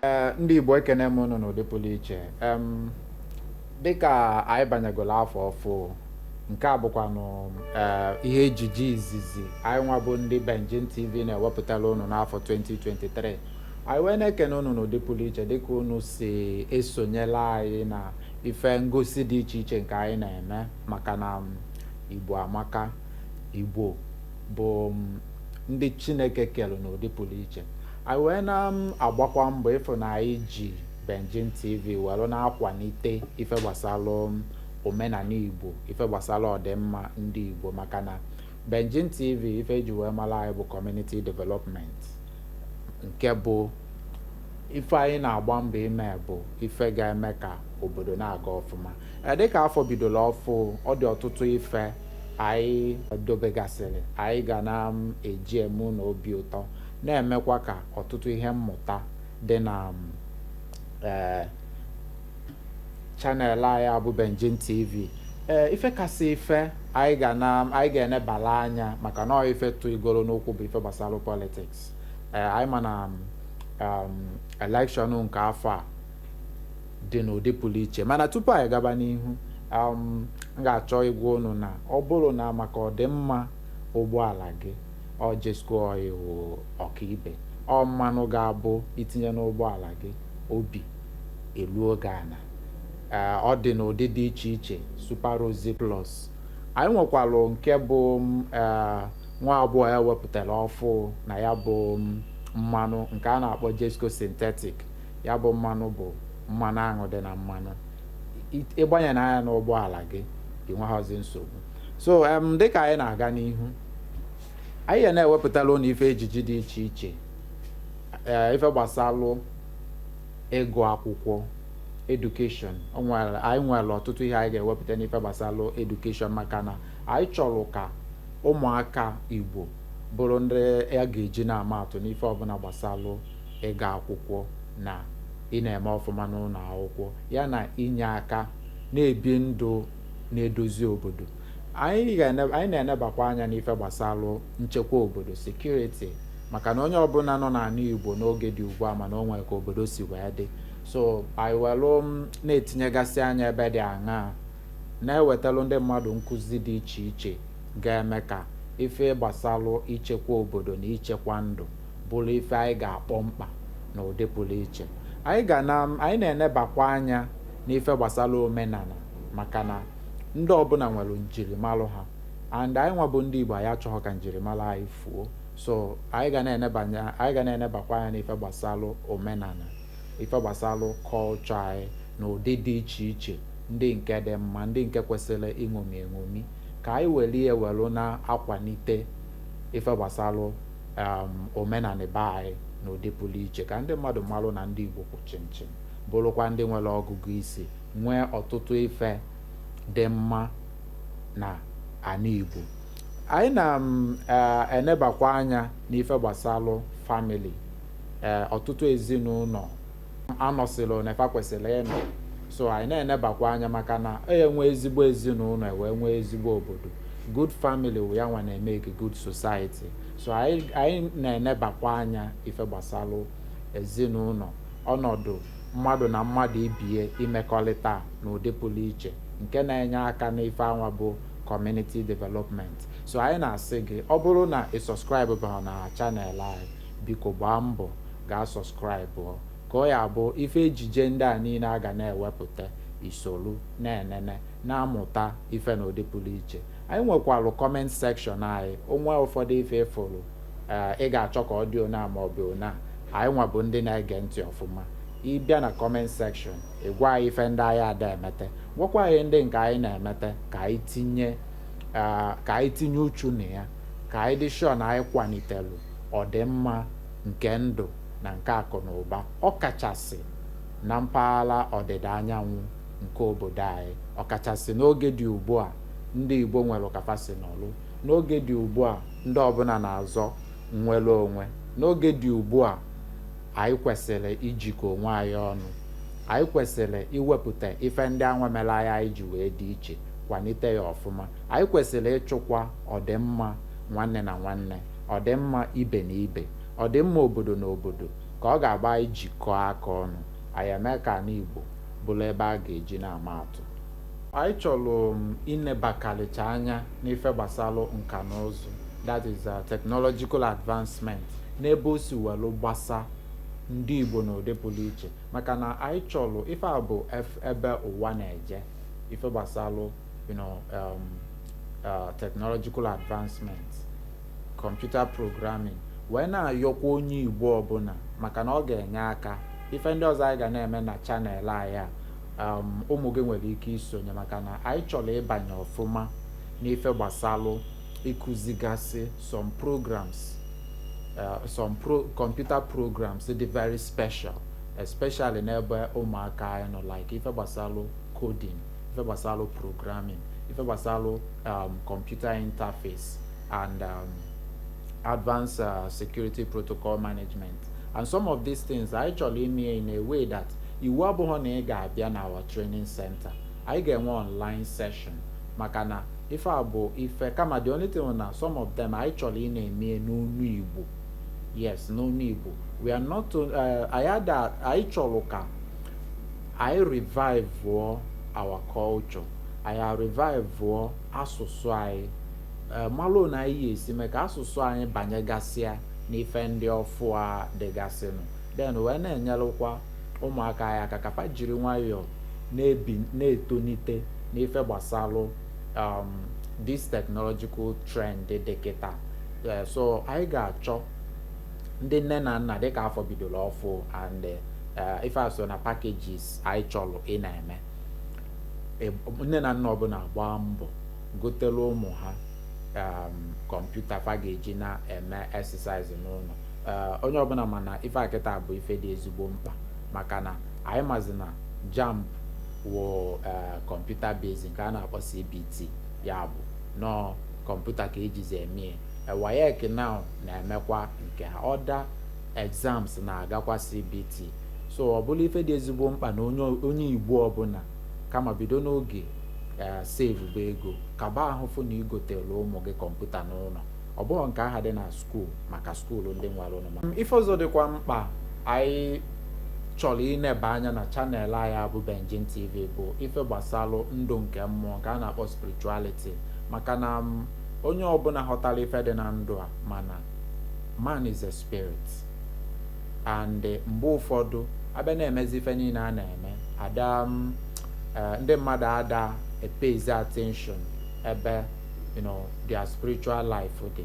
Eh, ndị Igbo ekene m unu n'ụdị pụrụ iche dịka anyị banyegoro afọ ọfụ nke a bụkwanụ eh, ihe ejije izizi anyị nwa bụ ndị Benjin TV na-ewepụtara unu n'afọ 2023 anyị wee na-ekene unu n'ụdị pụrụ iche dịka unu si esonyela anyị na ife ngosi dị iche iche nke anyị na-eme maka na um, igbo amaka igbo bụ um, ndị chineke kere n'ụdị pụrụ iche anyị wee na-agbakwa um, mbọ ịfụ na anyị ji Benjin TV were na-akwalite ife gbasara omenala igbo ife gbasara ọdịmma ndị igbo maka na Benjin TV ife eji wee mara anyị bụ community development nke bụ ife anyị na-agba mbọ ime bụ ife ga-eme ka obodo na-aga ọfụma e, dịka afọ bidola ọfụ ọ dị ọtụtụ ife anyị dobegasịrị anyị ga na-eji um, eme unu obi ụtọ na-emekwa ka ọtụtụ ihe mmụta dị na um, e, chanel anyị a bụ Benjin TV ee ife kasị ife anyị ga na anyị ga-enebala anya maka na ọ ife tụ igoro n'okwu bụ ife gbasara politiks ee anyị ma na elekshọn nke afọ a dị n'ụdị pụrụ iche mana tupu anyị gaba n'ihu m ga-achọ ịgwa unu na ọ bụrụ na maka ọdịmma ụgbọala gị ọ Jezco oil ọkaibe ọ mmanụ ga-abụ i tinye n'ụgbọala gị obi eluo gị ana ee ọ dị n'ụdị dị iche iche Super Rosy Plus anyị nwekwalụ nke bụ ee nwa agbọghọ e wepụtara ọfụ na ya bụ mmanụ nke a na-akpọ Jezco Synthetic ya bụ mmanụ bụ mmanụ aṅụ dị na mmanụ ị gbanyenaa ya n'ụgbọala gị i nweghọzi nsogbu so em dịka anyị na-aga n'ihu anyị ya na-ewepụtara ụnụ ife ejije dị iche iche ee ife gbasalụ ịgụ akwụkwọ edukeshọn anyị nwere ọtụtụ ihe anyị ga-ewepụta n'ife gbasalụ edukeshọn maka na anyị chọrọ ka ụmụaka Igbo bụrụ ndị a ga-eji na-ama atụ n'ife ọbụla gbasalụ ịga akwụkwọ na ịna-eme ọfụma n'ụlọ akwụkwọ ya na inye aka na-ebi ndụ na-edozi obodo anyị na-enebakwa anya n'ife gbasalụ nchekwa obodo security maka na onye ọbụla nọ n'ala Igbo n'oge dị ugbu a ma na o nwere ka obodo si wee dị so anyị welụ na-etinyegasị anya ebe dị aṅaa na-ewetalụ ndị mmadụ nkụzi dị iche iche ga-eme ka ife gbasalụ ichekwa obodo na ichekwa ndụ bụrụ ife anyị ga-akpọ mkpa na ụdị pụlụ iche anyị na-enebakwa anya n'ife gbasalụ omenala maka na ndị ọbụla nwere njirimara ha and anyị nwa bụ ndị Igbo anyị achọghọ ka njirimara anyị fuo so anyị ga na-enebanye anyị ga na-enebakwa anya n'ife gbasalụ omenala ife gbasalụ culture anyị na ụdị dị iche iche ndị nke dị mma ndị nke kwesịrị iṅomi eṅomi ka anyị were ya were na-akwalite ife gbasalụ um, omenala be anyị na ụdị pụrụ iche ka ndị mmadụ marụ na ndị Igbo kwụ chịmchịm bụrụkwa ndị nwere ọgụgụ isi nwee ọtụtụ ife dị mma na ana Igbo anyị na-enebakwa mm, eh, anya n'ife gbasalụ family eh, ọtụtụ ezinụlọ anọsịrọ na ebe fa kwesịrị ịnọ so anyị na-enebakwa anya maka na e nwee ezigbo ezinụlọ e wee nwee ezigbo obodo good family wụ ya nwa na-emeke good society so anyị na-enebakwa anya ife gbasalụ ezinụlọ ọnọdụ mmadụ na mmadụ ibie imekọrịta n'ụdị pụrụ iche nke na-enye aka n'ife anwa bụ community development so anyị na-asị gị ọ bụrụ na ị subscribe barọ na channel anyị biko gbaa mbọ gaa subscribe ka ọ ya-abụ ife ejije ndị a niile a ga na-ewepụta i solu na-enene na-amụta ife na ụdị pụrụ iche anyị nwekwalụ comment section anyị o nwee ụfọdụ ife ị fụrụ ee ị ga-achọ ka ọ dị ona ma ọ bụ ona anyị nwa bụ ndị na-ege ntị ọfụma ị bịa na comment section ị gwa anyị ife ndị anyị ada emete gwakwa anyị ndị nke anyị na-emete ka anyị tinye ka anyị tinye uchu na ya ka anyị dị sure na anyị kwalitelu ọdịmma nke ndụ na nke akụ na ụba ọkachasị na mpaghara ọdịda anyanwụ nke obodo anyị ọkachasị n'oge dị ugbu a ndị Igbo nwere ka fa si nọlụ n'oge dị ugbu a ndị ọbụla na-azọ nnwere onwe n'oge dị ugbu a anyị kwesịrị ijikọ onwe anyị ọnụ anyị kwesịrị iwepụta ife ndị anwa mere anyị anyị ji wee dị iche kwalite ya ọfụma anyị kwesịrị ịchụkwa ọdịmma nwanne na nwanne ọdịmma ibe na ibe ọdịmma obodo na obodo ka ọ ga-abụ anyị jikọọ aka ọnụ anyị emee ka ala Igbo bụrụ ebe a ga-eji na-ama atụ Anyị chọrọ um, inebakarịcha anya n'ife gbasalụ nka na ụzụ that is uh, technological advancement n'ebe o si welu gbasa ndị Igbo n'ụdị pụrụ iche maka na anyị chọrọ ife a bụ ebe ụwa na-eje ife gbasalụ you know, um, uh, technological advancement computer programming wee na-ayọkwa onye Igbo ọbụla maka na ọ ga-enye aka ife ndị ọzọ anyị ga na-eme na channel anyị a um, ụmụ gị nwere ike isonye maka na anyị chọrọ ịbanye ọfụma n'ife gbasalụ ịkụzigasị some programs uh, some pro computer programs dị very special especially n'ebe ụmụaka anyị nọ like ife gbasalụ coding ife gbasalụ programming ife gbasalụ um, computer interface and um, advanced uh, security protocol management and some of these things anyị chọrọ ime in a way that Iwu abụghị na ị ga-abịa na our training center. Anyị ga-enwe online session maka na ife a bụ ife kama the only thing na some of them anyị chọrọ ịna-eme n'onu Igbo. Yes, n'onu Igbo. We are not uh, anyị ada anyị chọrọ ka anyị revive our culture. Anyị revive asụsụ anyị. Eh, malụ na anyị esi mee ka asụsụ anyị banyegasịa n'ife ndị ọfụ a dịgasịnụ then wee na-enyelụkwa ụmụaka anyị aka ka fa jiri nwayọọ na-ebi na-etonite n'ife gbasalụ um, this technological trend dị kịta eh, so anyị ga-achọ ndị nne na nna dịka afọ bidoro ọfụ and eh, ife a so na packages anyị chọrọ ịna-eme eh, nne na nna ọbụla gbaa mbọ gotelu ụmụ ha um, kọmputa fa ga-eji na-eme exercise n'ụlọ ee onye ọbụla ma na ife a kịta bụ ife dị ezigbo mkpa maka na anyị mazi na JAMB wụ ee kọmputa based nke a na-akpọ CBT ya bụ na ọọ kọmputa ka e jizi eme ya WAEC now na-emekwa nke ha other exams na-agakwa CBT so ọ bụla ife dị ezigbo mkpa na onye onye Igbo ọbụla kama bido n'oge ee saveba ego kaba ahụ fụ na i gotelu ụmụ gị kọmputa n'ụlọ Ọ bụghị nke ahụ dị na skuul maka skuul ndị nwara ụnụ ma. Ife ọzọ dịkwa mkpa anyị chọrọ ineba anya na channel anyị a bụ Benjin TV bụ ife gbasalụ ndụ nke mmụọ nke a na-akpọ spirituality maka na um onye ọbụla ghọtara ife dị na ndụ a ma na man is a spirit and mgbe ụfọdụ a bịa na-emezi ife niile a na-eme ada um eh, ndị mmadụ ada epayzi attention ebe you know their spiritual life dị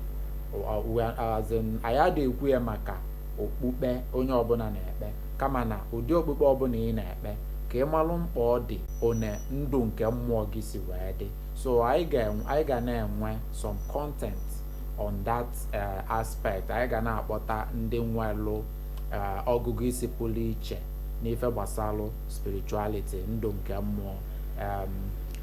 anyị adị ekwu ya maka okpukpe onye ọbụna na-ekpe kama na ụdị okpukpe ọbụna ị na-ekpe ka ị malụ mkpa ọ dị one ndụ nke mmụọ gị si wee dị so anyị ga na-enwe some content on that eh, aspect anyị ga na-akpọta ndị nwelụ eh, ọgụgụ isi pụrụ iche n'ife gbasalụ spirituality ndụ nke mmụọ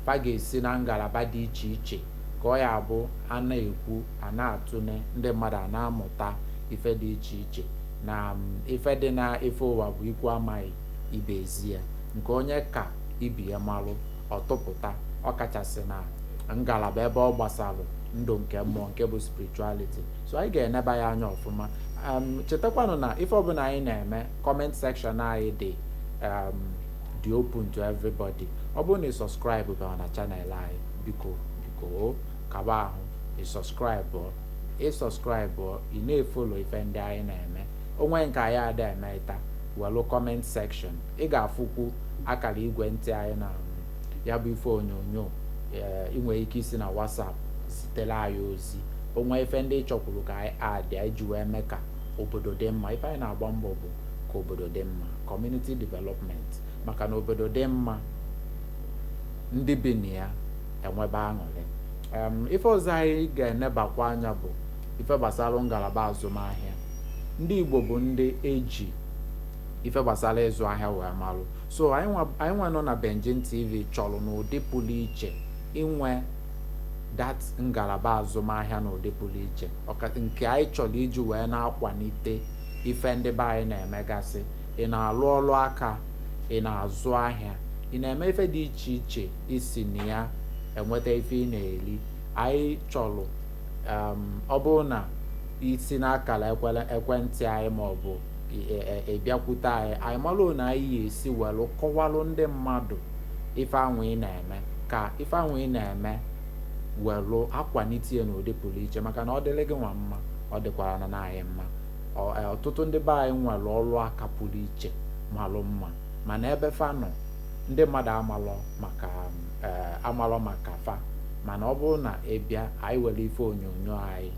fa ga-esi na ngalaba dị iche iche ka ọ ya-abụ a na-ekwu a na-atụne ndị mmadụ a na-amụta ife dị iche iche na ife dị na ife ụwa bụ ikwu amaghị ibe ezi ya nke onye ka ibe ya malụ ọ tụpụta ọkachasị na ngalaba ebe ọ gbasalụ ndụ nke mmụọ nke bụ spirituality so anyị ga-eneba ya anya ọfụma chetakwanụ na ife ọbụna anyị na-eme comment section anyị dị dị open to everybody ọ bụrụ na ị subscribe bịara na channel anyị biko biko gaa ebe ahụ ị subscribe ị subscribe ị na-efollow ife ndị anyị na-eme o nwee nke anyị ada emeta welụ comment section ị ga-afụkwu akara igwe ntị anyị na ya bụ ife onyonyo i nwere ike isi na WhatsApp zitere anyị ozi o nwee ife ndị ị chọkwuru ka anyị addịa anyị ji wee mee ka obodo dị mma ife anyị na-agba mbọ bụ ka obodo dị mma community development maka na obodo dị mma ndị bi na ya enwebe aṅụrị ife ọzọ anyị ga-enebakwa anya bụ ife gbasara ngalaba azụmahịa ndị Igbo bụ ndị e ji ife gbasara ịzụ ahịa wee marụ so anyị nwa nọ na Benjin TV chọrọ n'ụdị pụrụ iche inwe that ngalaba azụmahịa n'ụdị pụrụ iche nke anyị chọrọ iji wee na-akwalite ife ndị be anyị na-emegasị ị na-alụ ọrụ aka ị na-azụ ahịa ị na-eme ife dị iche iche i si na ya enweta ife ị na-eri anyị chọrọ um, ọ bụrụ na i si n'akara ekwentị anyị ma ọ bụ ị bịakwute e, e, e, anyị anyị malụ one anyị ya-esi welụ kọwalụ ndị mmadụ ife anwụ ị na-eme na-eme ka ife ahụ ị na-eme welụ akwalite ya n'ụdị pụrụ iche maka na ọ dịrị gị nwa mma ọ dịkwaranụ anyị mma e, ọtụtụ ndị be anyị nwere ọrụ aka pụrụ iche malụ mma mana ebe fa nọ ndị mmadụ amalọ maka e, amalọ maka fa mana ọ bụrụ na ị bịa anyị were ife onyonyo anyị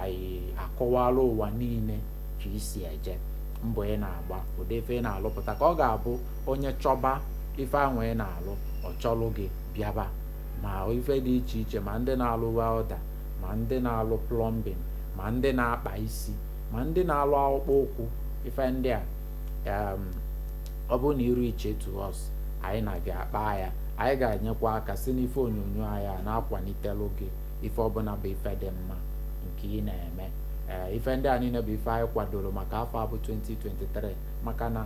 anyị akọwara ụwa niile ka i si eje mbọ ị na-agba ụdị ife ị na-alụpụta ka ọ ga-abụ onye chọba ife ahụ ị na-alụ ọ chọlụ gị bịaba ma ife dị iche iche ma ndị na-alụ welder ma ndị na-alụ plumbing ma ndị na-akpa isi ma ndị na-alụ akpụkpọ ụkwụ ife ndị a ọ bụrụ na ị reach out to us anyị na gị akpa ya anyị ga-enyekwa aka si n'ife onyonyo anyị a na-akwalitelu gị ife ọbụla bụ ife dị mma nke ị na-eme ee ife ndị a niile bụ ife anyị kwadoro maka afọ a bụ 2023 maka na